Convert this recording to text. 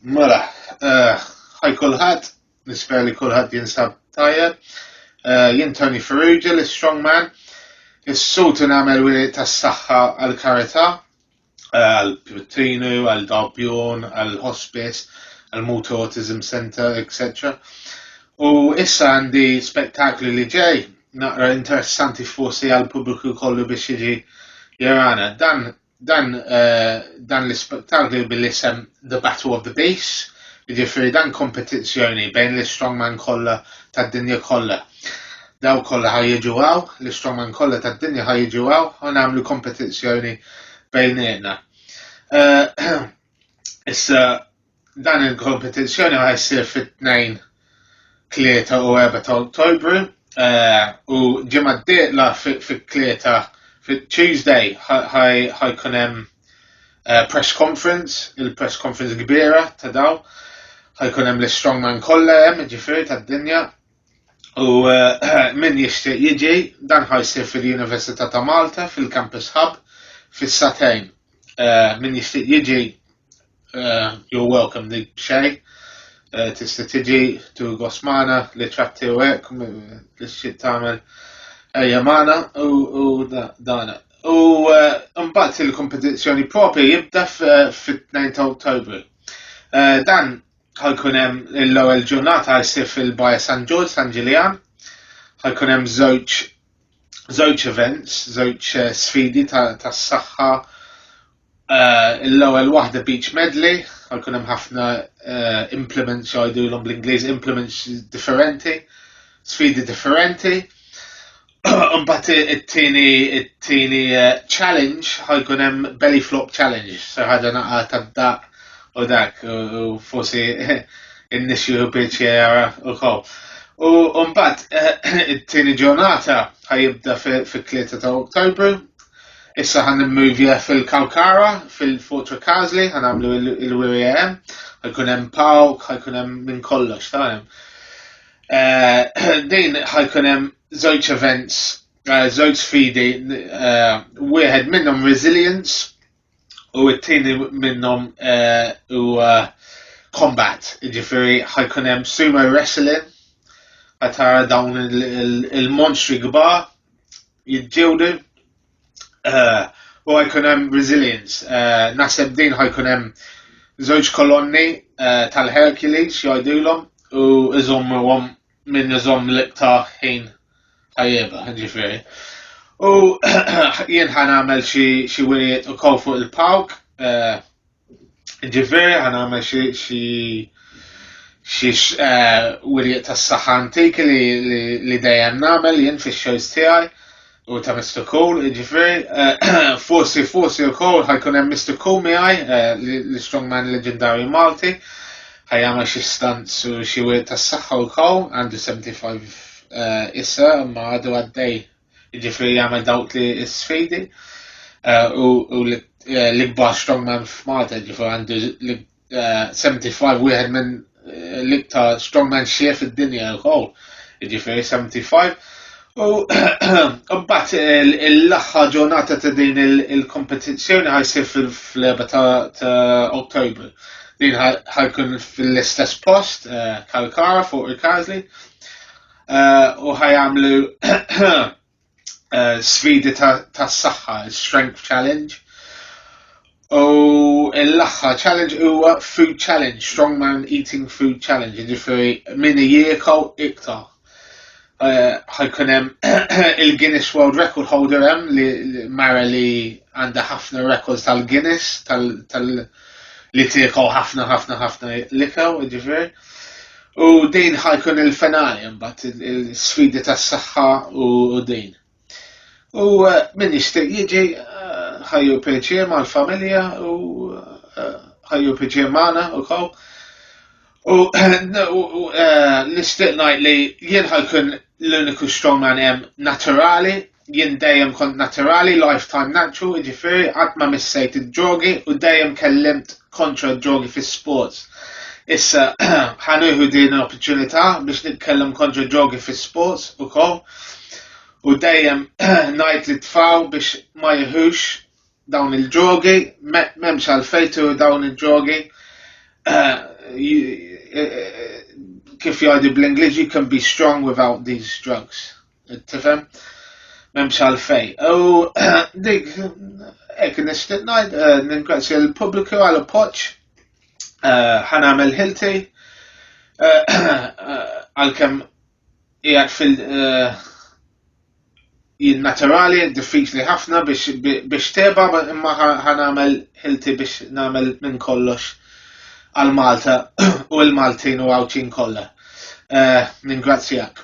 Mela, eh, ħaj kulħadd, nispera li kulħadd jinsab tajjeb. Eh, jien Tony Ferrugia, l-strongman, is-sutu nagħmel wili tas-saħħa għal-karità, għal Pitrinu, għal Darbjorn, għal Hospice, għal Motor Autism Center, etc. U issa għandi spektakli li ġej, naqra interessanti forsi għal pubbliku kollu biex jiġi jarana. Dan, dan, uh, dan l-spektakli bil-isem The Battle of the Base, ġifiri dan kompetizzjoni bejn l-strongman kollha tad-dinja kollha. Dawk kollha ħa jiġu hawn, l-istrongmen kollha tad-dinja ħa jiġu hawn u nagħmlu kompetizzjoni bejnietna. Eh, issa dan il-kompetizzjoni ħa jsir fit-tnejn 3 u 4 ta' Ottobru eh, u ġimgħa d-dieqla fit-tlieta fit-Tuesday ħajkun hemm eh, press conference, il-press conference kbira ta' daw, ħajkun hemm l-strongman kollha hemm ġifieri tad-dinja U eh, min jixtieq jiġi dan ħajsir fil-Università ta' Malta fil-Campus Hub fis-satejn. Eh, min jixtieq jiġi eh, you're welcome li xej. Tista' tiġi tu gosmana li ċatti u hekk li xi tagħmel ejja magħna u dan. U mbagħad il-kompetizzjoni propri jibda fit-2 ta' Ottobru. Dan ħajkun hemm l-ewwel ġurnata jsir fil-Baja San Ġorġ San Ġiljan. Ħajkun hemm żewġ żewġ events, żewġ eh, sfidi tas-saħħa. Eh, l-ewwel waħda beach medley, ħajkun hemm ħafna eh, implements jgħidulhom bl-Ingliż implements differenti, sfidi differenti. Mbagħad it-tieni it-tieni eh, challenge ħajkun hemm belly flop challenge, se ħaġa naqa' tad-daq u dak u forsi in-nies jieħu pjaċera wkoll. U mbagħad eh, it-tieni ġurnata ħajibda fit-3 ta' Oktobru. Issa ħan immuvja fil-Kawkara, fil-Fortra Kazli, ħan għamlu il-WM, ħajkun hemm pawk, ħajkun hemm minn kollox, ta' Eh, din ħajkun hemm żewġ events, eh, żewġ sfidi, eh, wieħed minnhom resilience u t-tieni minnhom u combat, ġifieri ħajkun hemm sumo wrestling għatara dawn il-monstri gba jidġewdu eh, u għajkun hemm resilience. Eh, naħseb din ħajkun hemm żewġ kolonni eh, tal-Hercules jgħidulhom u iżommuhom minn iżomm l-iqta ħin tajjeba, ġifieri. U jien ħan għamel xi wirijiet ukoll fuq il-pawk Ġifieri ħa nagħmel xi xi xi eh, wirjiet tas-saħħa antiki li dejjem nagħmel jien fix-shows tiegħi u ta' Mr. Cool, ġifieri eh, forsi forsi wkoll ħajkun hemm Mr. Cool miegħi eh, l-strongman leġendarju Malti ħajjama xi stanz u xi wirt tas-saħħa wkoll għandu 75 issa ma għadu għaddej Ġifri jagħmel dawk li sfidi eh, u eh, l-ikbar strongman f'Malta ġifri għandu 75 eh, wieħed minn l-iktar strongman xef id-dinja wkoll. Ġifri 75 U mbagħad l-aħħar ġurnata ta' din il-kompetizzjoni ħajsir fil-leba ta' Ottobru. Din ħajkun fil-istess post, Kalkara fuq il-Każli. Eh, u ħajamlu eh, sfidi ta' saħħa, strength challenge. U l-axħa challenge huwa food challenge, strongman eating food challenge, ġifiri min jiekaw iktar. Eh, ħajkun hemm il-Guinness World Record holder hemm li mara li għandha ħafna records tal-Guinness tal-World li tieku ħafna ħafna ħafna likaw, ġifier. U din ħajkun il-finali mbagħad il-sfidi tas-saħħa u din. U eh, min jixtieq jiġi eh, ħajju peċi mal-familja u eh, ħajju peċi magħna u kaw. U nixtieq ngħid li jien ħajkun l-uniku strongman hemm naturali Jien dejjem kont naturali, lifetime natural, jiġifieri qatt ma missejt id-drogi u dejjem kellimt kontra d-drogi fis-sports. Issa ħa nieħu din l-opportunità biex nitkellem kontra d-drogi fis-sports ukoll u dejjem ngħid li tfaw biex ma jieħux dawn il-drogi, m'hemmx għalfejtu dawn il-drogi. kif jgħidu bl-Ingliż you can be strong without these drugs. Tifhem? M'hemmx għalfej. U dik hekk nixtieq ngħid eh, ningrazzja l-pubbliku għal appoġġ eh, ħanamel ħilti eh, għalkemm qiegħed fil- jien naturali, diffiċli ħafna biex teba imma ħanamel ħilti biex namel minn kollox għal Malta u l-Maltin u għawċin kollha. Ningrazzjak.